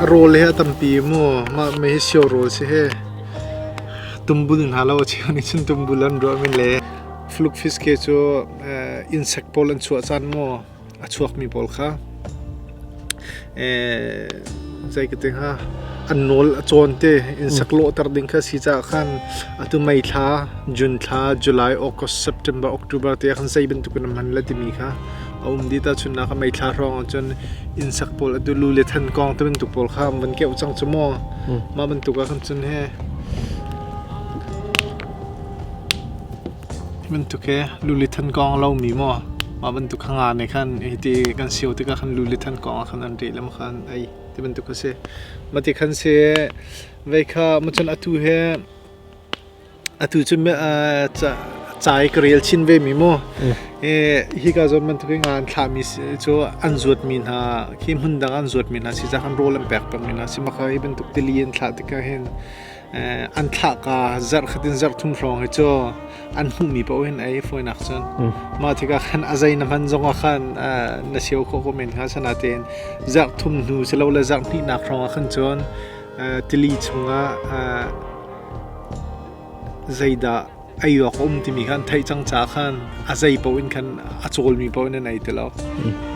A rawl hi a tampi maw? Mah mei hi sio rawl si hih. Tumbul hna lo a cheu nih cun tumbul an ruah men le flukfis ke cu insect pawl an chuah caan maw? a chuakmi pawl kha zei ka ti hnga an nawl a cawn te insek lawhter ding kha si caah khan atu mai thla june thla july august september october te khan zei bantukin man la timi kha a um di ta chunna ka mai thla hrong chun insek pawl atu lu le than kong te bantuk pawl kha van ke chang chu mo ma bantuk a khan chun he Hi bantuk hi luli than kong a lomi maw mah bantuk kha nga nih khan hiti kan sio tikah khan luli than kong ah khan an reh le maw khan ei ti bantuk a si. Mah ti khan si vei kha mah cun atu hi atu cu cai ka rel chin ve mi maw hi ka zawn bantuk hi nga an thlahmi cu an zuatmi hna khi hmun dang an zuatmi hna si zah khan rawl an pek pengmi hna si maka hi bantuk tili an thlah tikah hin an thlahka zarhkhat in zarh thum hrawng hi cu an hmuhmi paoh in ei fawinak cun mah tikah khan a zei na hman zongah khan na sio khawh ko men hnga sanatein zarh thum hnu si lo le zarh hnihnak hrawngah khan cun tili chungah zeidah ei awk a um timi kha an theih cang caah khan a zei paoh in khan a cawlmi paoh in an ei ti lo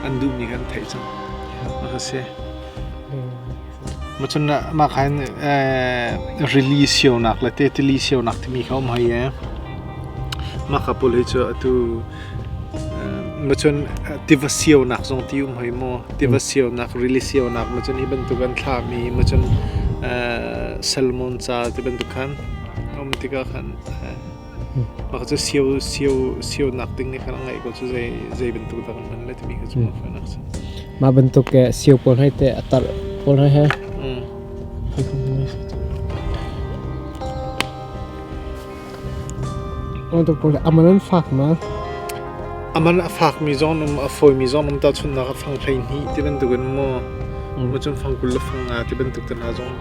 an duhmi kha an theih cang a ka si macun mah khan rili sionak le te tili sionak timi kha um hai e mah ka pul hi cu atu macun tiva sionak zong ti um hoi maw tiva sionak rili sionak macun hi bantuk an thlahmi macun salmon ca ti bantuk khan A um tikah khan mah cu sio sio sionak ding i khan a ngeih ko cu zei zei bantuk dah kan hman lai timi kha cu a fian a si. Mah bantuk ke sio pawl hoi te a tar pawl hoi he. Oh tu pawl aman an fak ma. Aman a fak mi zong um a foi mi zong um ta chunnak a fang hlei ni ti bantuk in mo. Mo chun fang kul la fang nga ti bantuk te na zong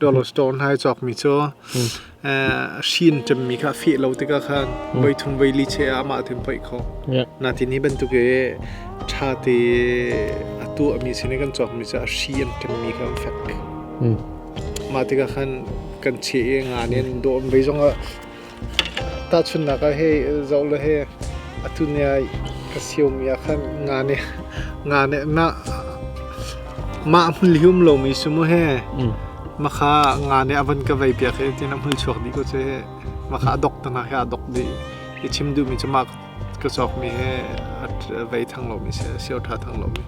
dollar store hnai cawkmi cu hrin cemmi kha feh lo tikah khan voi thum voi li che ah amah tin poih kho natin hi bantuk i ṭha te a tuahmi sin i kan cawkmi cu a hri an ṭemmi kha an fek mah tikah khan kan cheh i ngan in dawm voi zong ah Tahchunhnak ah hi zoh le hi atu ni ah ka siumi ah khan nga nih nga nih mah mah a hmul hi um lomi cu mu hi mah kha nga nih a van ka vei piak hi tiin a hmul chuak dih ko cu hi mah kha a dok tanak hi aa dok dih i chim duhmi cu mah ka cawkmi hi vei thang lomi si sio ṭha thang lomi.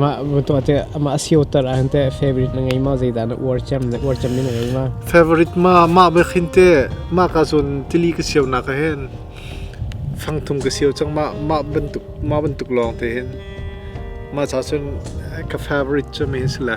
Mah tuah te mah sio tar an te favorite na ngei ma zeidan uar cem na uar cem na ngei ma. Favorite ma ma be khin te ma ka zon tili ka sio na ka hen fang thum ka sio chang ma ma bantuk ma bantuk long te hin ma cha chun ka favorite chu mi si la.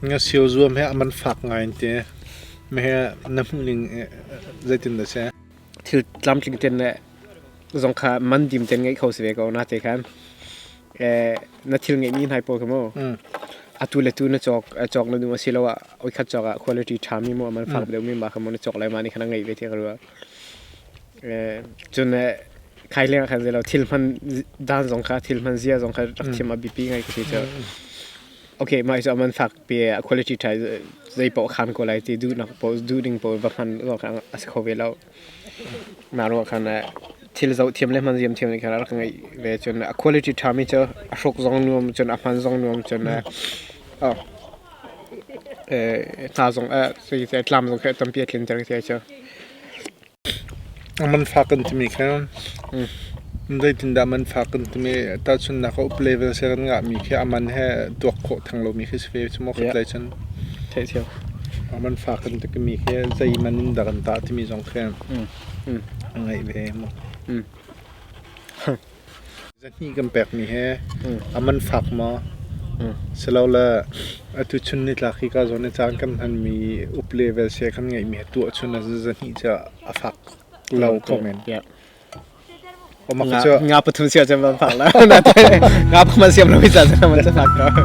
Ngasio zuam hi a man fak ngai an ti. Meheh na hmuhning zeitin dah a si? Thil tlamtling ten le zong kha man dim ten ngeih kho si ve ko na te khan. Na thil ngeihmi nai paw khi mu. Atu le tu na cawk cawk na duh a si lo ah oi khat cawk ah quality ṭha mi mu a man fak deuh mi ma kha mu na cawk lai ma ni khan a ngeih ve ti ka ruah. Cun khai leng ah khan zei lo thil hman dan zong kha thil hman zia zong kha rak thim a biapi ngai ka si cu. okay mai so man fak pe a quality thai zai po khan ko lai ti du nak po du ding po va khan lo kan as kho ve lo ma ro khan thil zo thiam le man ziam thiam le kala kan ngai ve chun a quality tha mi cho a hrok zong nuam chun a man zong nuam chun a ta zong a sai sai tlam zong kha tam pi thlin ter se cho Manfak kan timi kha zeitindah manfak kan timi tahchunhnak ah up level sia kan ngahmi khi a man he tuak khawh theng lomi khi si ve cu maw khutlai cun. Thehthiam. Manfak kan timi khi zeiman in dah kan tah timi zong khi a ngeih ve maw. Zahnih kan pekmi hi a man fak maw? Silole atu chun nitlak hika zawn i caan kan hmanmi up le vel sia kan ngeihmi hi tuah chun ah zahnih cu a fak lo ko men. Nga pathum sia cun van fak la. Nga pathum siam lo hi caan cun a man cu fak ko.